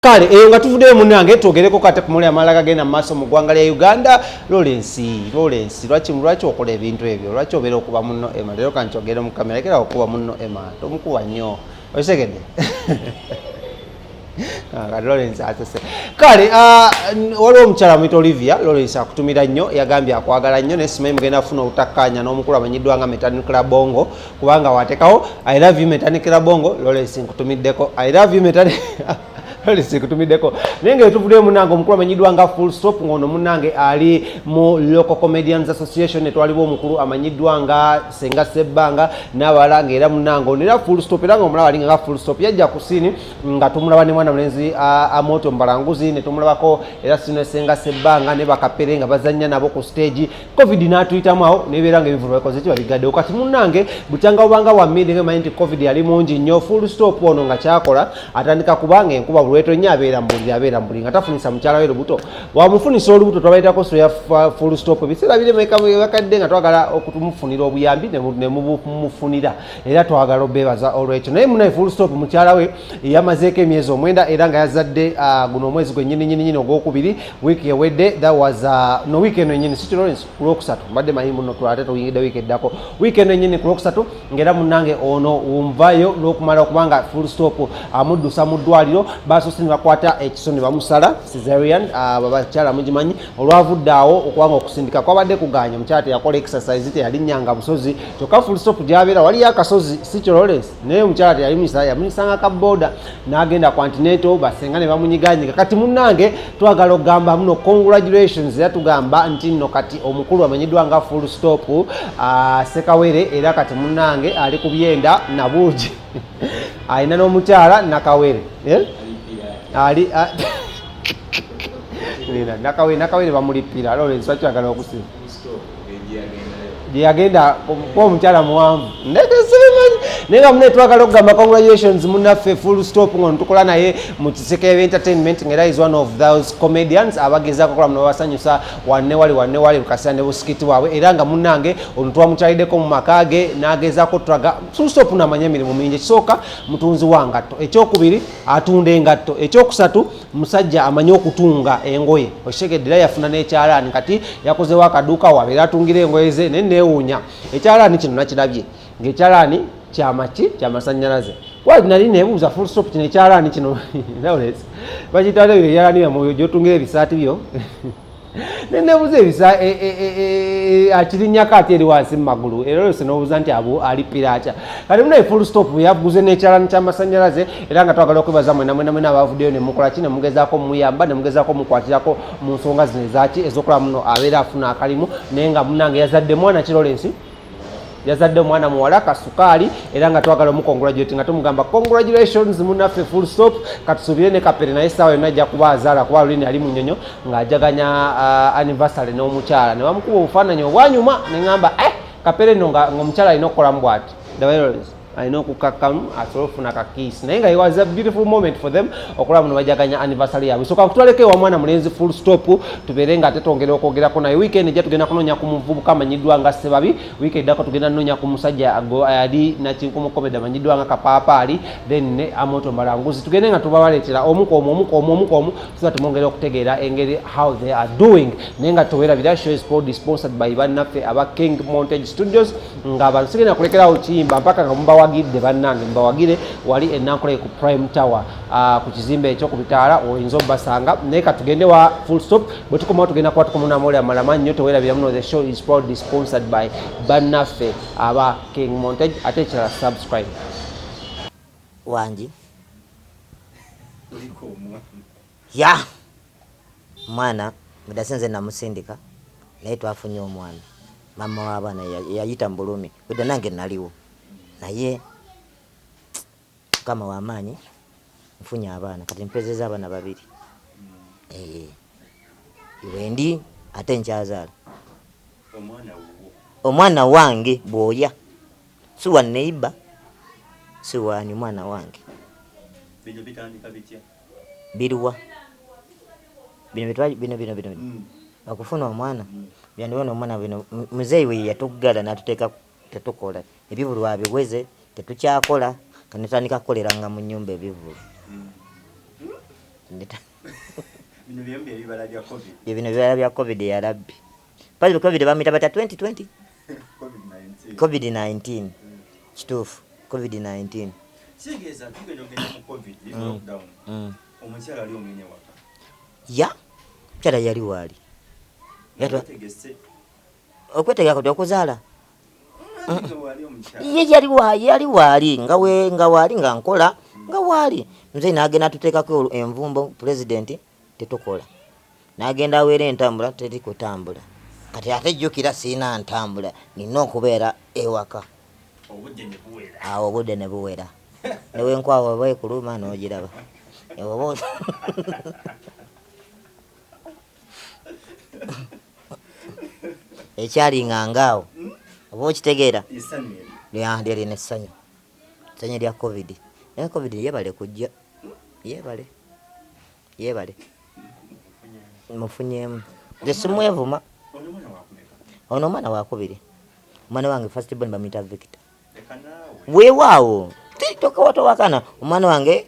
kale eyo nga tuvuddeyo munange twogereko kate kumuli amala gagenda mu maaso mu ggwanga lya uganda lorensi lorensi lwaki lwaki okola ebintu ebyo lwaki obeera okuba munno ema leero kankyogere mu kamera kera okuba munno ema tomukuba nnyo okitegedde ah, kati lorensi asese kale ah, waliwo omukyala mwita olivia lorensi akutumira nnyo yagambye akwagala nnyo naye simanyi mugenda kufuna obutakkaanya n'omukulu amanyiddwa nga metanucla bongo kubanga watekawo i love you metanikira bongo lolesi nkutumiddeko i love you metani lolesi nkutumiddeko naye nga etuvuddeyo munange omukulu amanyiddwa nga full stop ng'ono munange ali mu local comedians association etwalibwa omukulu amanyiddwa nga senga sebbanga n'abalala ngaera munange ono era full stop era nga omulaba alinga nga full stop yajja ku siini nga tumulaba ne mwana mulenzi amoto mbalanguzi ne tumulabako era sino senga sebbanga ne bakapere nga bazannya nabo ku stage covid n'atuyitamu awo nebeera nga ebivulu bakoze ki babigaddewo kati munnange bukyanga obanga wammindi nga emanyi nti covid yali mungi nnyo full stop ono nga kyakola atandika kubanga enkuba bulweto nnyo abeera mubuli abeera mubuli nga tafunisa mukyala we lubuto wamufunisa olubuto twabaitako soya full stop ebiseera biremekabakadde nga twagala okutumufunira obuyambi nemumufunira era twagala obebaza olwekyo naye munaye full stop mukyala we yamazeeko emyezi omwenda era nga yazadde ah, guno omwezi gwenyininyininyini ogwokubiri wiiki ewedde that was uh, no wiiki eno enyini city lawrence ku lwokusatu mbadde manyi muno twate tuyingidde wiiki eddako wiiki eno enyini ku lwokusatu ngaera munange ono wumvayo n'okumala okubanga full stop amuddusa mu ddwaliro basoose ne bakwata ekiso ne bamusala cesarian uh, bakyala mugimanyi olwavudde awo okubanga okusindika kwabadde kuganya omukyala teyakola exercise teyalinnyanga busozi kyokka full stop gyabeera waliyo akasozi city lawrence naye omukyala teyali muyisa yamunyisanga ka boda nagenda ku antineto basenga ne bamunyiganyiga kati munange twagala okugamba muno congratulations era tugamba nti nno kati omukulu amanyiddwa nga full stop uh, sekawere era kati munange ali ku byenda nabuugi alina n'omukyala nakawere eh? ali ah, nakawere nakawere bamulippira lawrence wakyagala okusiba gye yagenda kuba omukyala muwanvu ndekesemanyi naye nga mune twagala okugamba congratulations munaffe full stop nga netukola naye mu kiseke eb entertainment nga era is one of those comedians abagezaako okola muno babasanyusa wanne wali wanne wali lukasira ne busikiti waabwe era nga munange ono twamukyalideko mu maka ge n'agezaako tulaga full stop namanya emirimu mingi ekisooka mutunzi wa ngatto ekyokubiri atunda engatto ekyokusatu musajja amanyi okutunga engoye okitegedde era yafuna n'ekyalaani kati yakozewo akaduuka wabeera atungira engoye ze naye neewuunya ekyalaani kino nakirabye ngaekyalaani kyamaki kyamasanyalaze wali nali nebuuza full stop kino ekyalaani kino bakitwala ebyo ebyalaani byamoyo gyotungira ebisaati byo nenebuza ebisa e, e, e, akirinyako ate eri wansi mumagulu era olwese nobuuza nti abo ali piraca kati munaye full stop yaguze nekyalani kyamasanyalaze era nga twagala okwebaza mwena mwena mwena abavuddeyo nemukolaki nemugezako muyamba nemugezako mukwatirako mu nsonga zino ezaki ezokola muno abeera afuna akalimu naye nga munange yazadde mwana kirolensi yazadde omwana muwala kasukaali era nga twagala omukongulagirati nga tumugamba congratulations munaffe full stop katusuubire ne kapere naye essaawa yonna ajja kuba azaala kuba lulini ali mu nyonyo ng'ajaganya uh, anniversary n'omukyala ne bamukuba obufaananyi obwanyuma ne ŋamba eh, kapere nno ng'omukyala alina okukolamu bwati alina okukakkamu asobole okufuna kakiisi naye nga was a beautiful moment for them okulaba muno bajaganya anniversary yabwe soka kutwaleko ewa mwana mulenzi full stop tubeere nga ate twongera okwogerako naye weekend ejja tugenda kunoonya ku muvubuka amanyiddwa nga sebabi weekend eddako tugenda noonya ku musajja ali nakinkumukomeda amanyiddwa nga kapaapaali then ne amoto malanguzi tugende nga tubabaleetera omukomu omukomu omukomu tuba tumwongera okutegeera engeri how they are doing naye nga towerabira show is sponsored by bannaffe aba king montage studios nga abantu sigenda kulekerawo kiyimba mpaka nga mubawagidde bannange mubawagire wali enankuleke ku prime tower ah, ku kizimbe ekyo ku bitaala oyinza obubasanga naye katugende wa full stop bwe tukomawo tugenda kuba tukomunamuoli amalama nnyo tewerabira muno the show is proudly sponsored by bannaffe aba king montage ate ekirala subscribe wangi Yah mwana mudase nze namusindika naye twafunye omwana mama wabaana yayita mubulumi bweda nange naliwo naye mukama wamaanyi nfunye abaana kati mpezeza abaana babiri eh, wendi ate nkyazaala omwana wange bwoya si wa neiba si wani mwana wange biruwa bino bitwa bino bino bino okufuna omwana byandiwa nomwana bino muzeeyi we yeyatuggala natuteeka tetukola ebivulu abiweze tetukyakola kanetandika kukoleranga mu nyumba ebivulu bino bibala bya covid yalabbi Pale covid bamuyita batya 2020 covid 19 kituufu covid 19 kitegeeza tugenda ogenda mu covid mm. lockdown mm. omukyala ali omenye waka ya mukyala yali waali okwetegeka kati okuzaala ye yali waali yali waali nga we nga waali nga nkola nga waali mzee nagenda tuteekako envumbo pulezidenti tetukola nagenda awera entambula teri kutambula kati ate jukira sirina ntambula nina okubeera ewaka awo obudde ne buwera newenkwawa oba ekuluma nogiraba oba ekyalinga ngaawo oba okitegeera lyerina essanyu Sanye lya covid naye covid yebale kujja yebale yebale mufunyemu nze simwevuma ono omwana wakubiri omwana wange first born bamuyita victor weewaawo tokawatowakana omwana wange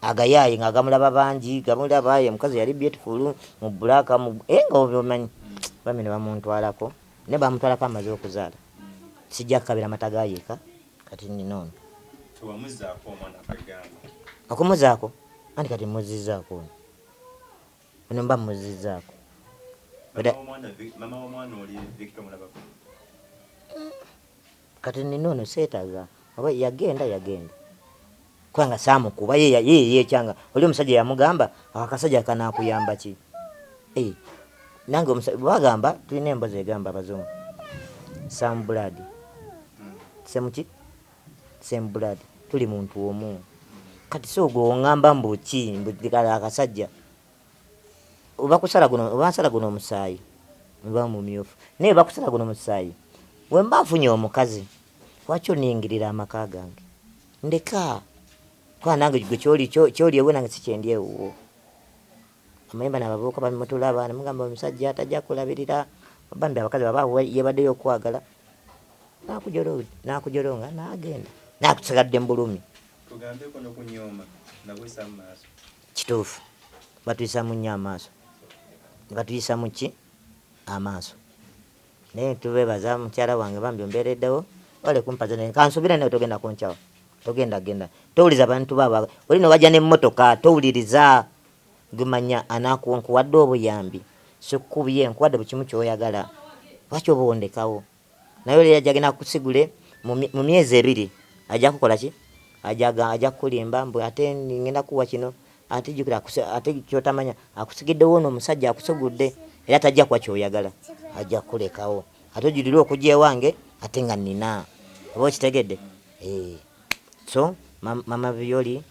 agayaaye nga agamulaba bangi gamulaba ye mukazi yali beautiful mu black mu eh nga obimanyi bamene bamuntwalako ne bamutwalako amaze okuzaala sijja kukabira mata ga yeka kati nina ono tewamuzaako omwana kagamba okumuzaako anti kati muzizzaako ono ono mba muzizzaako mama w'omwana oli victor mulabako Kati nina ono setaga oba yagenda yagenda kubanga samukuba ye ye yekyanga oli omusajja yamugamba akasajja kanakuyamba ki eh nange omusajja bagamba tulina embozi egamba abazungu some blood same ki same blood tuli muntu omu kati so gwe ongamba mbu ki mbu akasajja bakusala guno bansala guno omusaayi mba mumyufu naye bakusala guno musaayi wemba nfunye omukazi lwaki oningirira amaka gange ndeka kuba nange gwe kyoli kyoli ewe nange sikyendi ewuwo amayemba nabavubuka bamutulaba namugamba omusajja atajja kulabirira bambi abakazi baba yebaddeyo okwagala nakujolonga nagenda nakusigadde mu bulumi tugambeko nokunyooma nabwesa mu maaso Kituufu batuyisamu nnyo amaaso. Batuyisamu ki amaaso naye tubebaza mukyala wange bambi ombereddewo wale kumpaza naye kansubire naye togenda kunkyawa togenda genda towuliza abantu baba oli ne wajja n'emmotoka towuliriza gumanya anakuwa nkuwadde obuyambi sikukubye nkuwadde buli kimu kyoyagala lwaki oba ondekawo Naye oli yajja genda kusigule mu myezi ebiri ajja kukola ki ajaga ajja kulimba mbu ate ngenda kuwa kino ate jukira ate kyotamanya akusigidde wono omusajja akusugudde era tajja kuwa kyoyagala ajja kulekawo ate ojulire okujja ewange ate nga nina oba okitegedde ee eh. so mama violi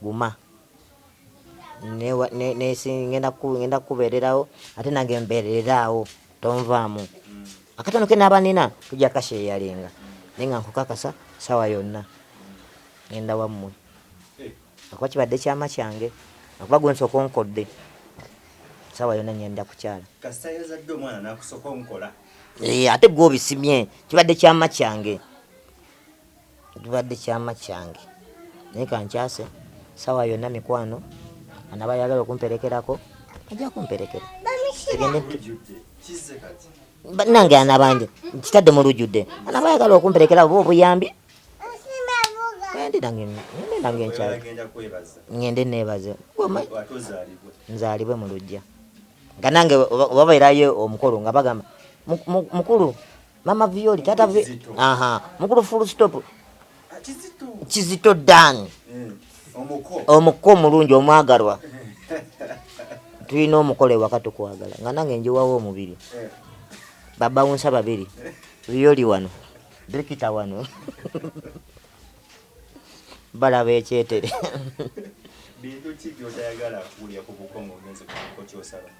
Guma ngenda kukubeererawo ate nange mbeereraawo tonvaamu akatono ke naaba nina tujja kasheeyalinga naye nga nkukakasa sawa yonna ngenda wammwe akuba kibadde kyama kyange akuba gwe nsooka onkodde sawa yonna ngenda kukyala eh, ate gwe obisimye kibadde kyama kyange Kibadde kyama kyange naye kankyase sawa yona mikwano anaba yagala okumperekerako aja kumperekera tugende nange anabanje kitadde mulujudde anaba yagala okumperekera oba obuyambi ngende nebaze nzalibwe mulujja nga nange obabeerayo omukolo nga bagamba mukulu mama violi tata vi aha mukulu full stop ah, kizito kizito dan eh, omuko omuko omulungi omwagalwa tulina omukola ewaka tukwagala nga nange njiwawo omubiri eh. baba wunsa babiri violi wano dikita wano balaba ekyetere bintu ki byotayagala kuwulira ku bukongo ogenze kuko kyosaba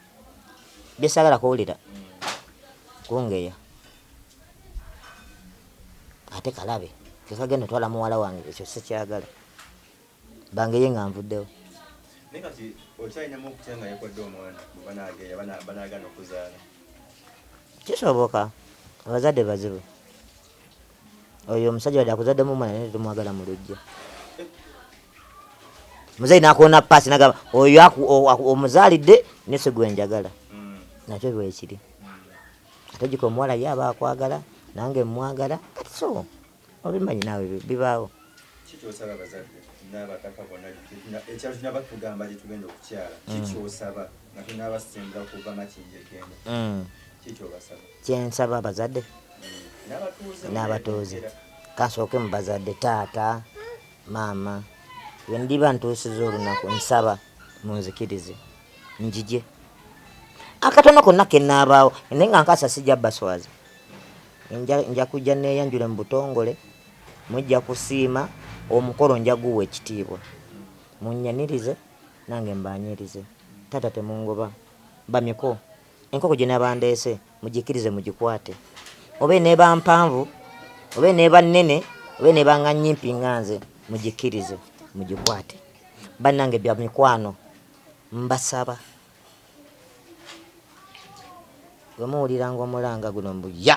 bye saagala kuwulira kungeya ate kalabe kekagenda otwala muwala wange ekyo sikyagala bangeye nga nvuddewo naye kati okyalinamu okutya nga yekodde omwana banageya banagana okuzaala kisoboka abazadde bazibu Oyo omusajja wadde akuzaddemu omwana naye tetumwagala mu luggya. Muzeeyi nakoona paasi nagamba oyo omuzaalidde ne si gwe njagala. Mm. Nakyo bwekiri. Ate gika omuwala ye aba akwagala nange mmwagala kati so obimanyi naawe bibaawo. Kikyosaba abazadde n'abataka bonna ekyalo kino batugamba gye tugenda okukyala mm. kikyosaba nga tunaabasemba kuva makindegenda mm. kikyobasaba. Kyensaba abazadde n'abatuuze kansooke mu bazadde taata, maama wendiba ntuusizza olunaku nsaba munzikirize njije akatono konna kenaabaawo naye nga nkaasa sijja baswaza nja kujja neeyanjule mu butongole mujja kusiima omukolo nja guwa ekitiibwa munnyanirize nange mbaanirize taata temungoba bamiko Enkoko gye naba ndeese mugikkirize mugikwate oba eneeba mpanvu oba eneeba nnene oba eneeba nga nnyimpi nga nze mugikkirize mugikwate. Bannange bamikwano mbasaba bwe muwuliranga omulanga guno mbu ya!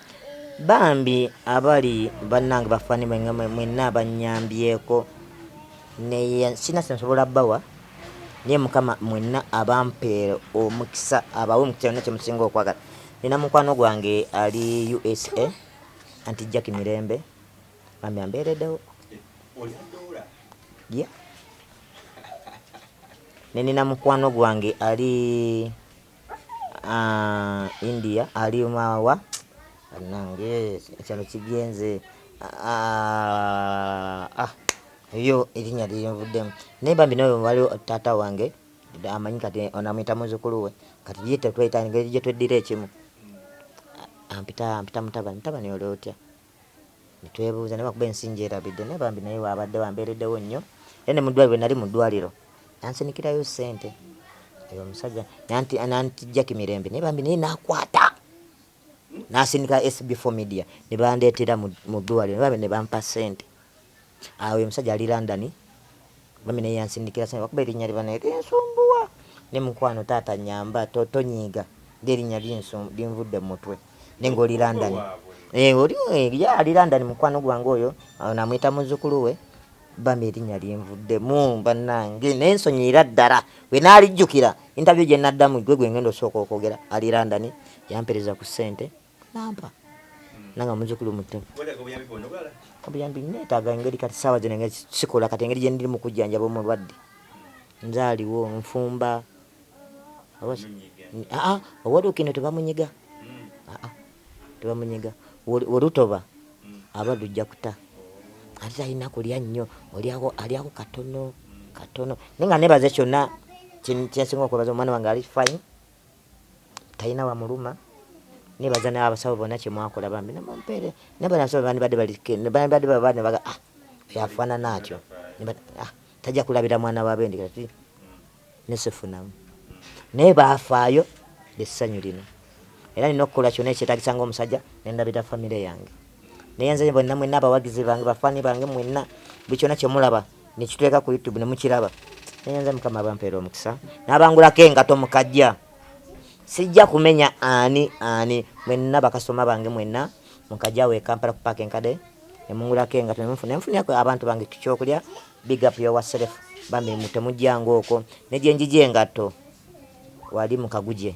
Bambi abali banange bafani mwena abanyambyeko naye sina kyensobola bawa naye mukama mwena abampere omukisa abawe omukisa yona kyemusinga okwagala nina mukwano gwange ali usa anti jack mirembe bambi amberedewo yeah. nenina mukwano gwange ali Aah India alima wa banange ekyalo kigenze aah ebyo erinya lyenvuddemu naye bambi nawe waliwo taata wange amanyi kati ono amuyita muzukulu we kati ye tetweyita ngeri gyetweddira ekimu ampita ampita mutabani mutabani oli otya. ne twebuuza naye lwakuba ensi ngyerabidde naye bambi naye waabaddewo ambeereddewo nnyo era ne mu ddwaaliro bwe nali mu ddwaaliro yansinikirayo ssente oyo omusajja nanti nantijjaki mirembe naye bambi naye nakwata nasindika SB4 media ne bandeetera mu ddwaaliro ne bambi ne bampa ssente Aah oyo omusajja ali London bambi naye yansindikira sente lwakuba erinya lye banaye linsumbuwa naye mukwano taata nyamba tonyiiga ndi erinya linvudde mumutwe naye nga oli London eh, oli eh, ye ali London mukwano gwange oyo namuyita muzukulu we bambi erinya linvuddemu banange naye nsonyiyira ddala wenalijjukira interview gyenaddamu gwe gwengenda osooka okwogera ali London yampereza ku sente nampa nanga muzukulu muto obuyambi netaaga engeri kati saawa zino engeri sikola kati engeri gyendiri mu kujjanjaba omulwadde nzaaliwo nfumba aa owolukino tebamunyiga aa tebamunyiga wolutoba aba lujja kuta ate talina kulya nnyo olyako alyako katono katono naye nga nebaze kyonna kyensinga okwebaza omwana wange ali fine Talina wamuluma nebaza nabasawo bona kyemwakola bambi nemumpere naye bano abasawo bandibadde bandibadde baba nebaga ah oyo afaanana atyo ah tajja kulabira mwana wa bendi kati nesifunamu naye baafaayo lyessanyu lino era nina okukola kyona ekyetagisa ngaomusajja nendabira famire yange naye nze bonna mwenna abawagizi bange bafaani bange mwenna buli kyona kyemulaba nekituleka ku YouTube nemukiraba naye nze mukama abampeera omukisa nabangulako engato mukajja sijja kumenya ani ani mwenna bakasitoma bange mwenna mukajja we kampala ku paaka enkade nemungulako engato nemunfuna enfunirako abantu bange kyokulya big up your self bambi temujjanga okwo negyenjija engatto wali mukaguje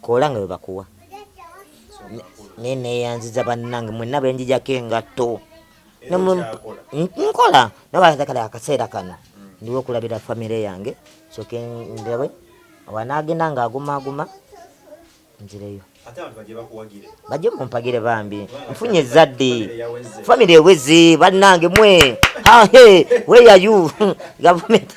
kola nga webakuwa naye neyanziza bannange mwenna benjijako engatto nkola nabaakale akaseera kano ndiwo okulabira famire yange soke ndabe wanagenda nga agumaguma nzireyo bajje mumpagire bambi nfunye ezzadde famire eweze bannange mwe hahe weyayu gavumenti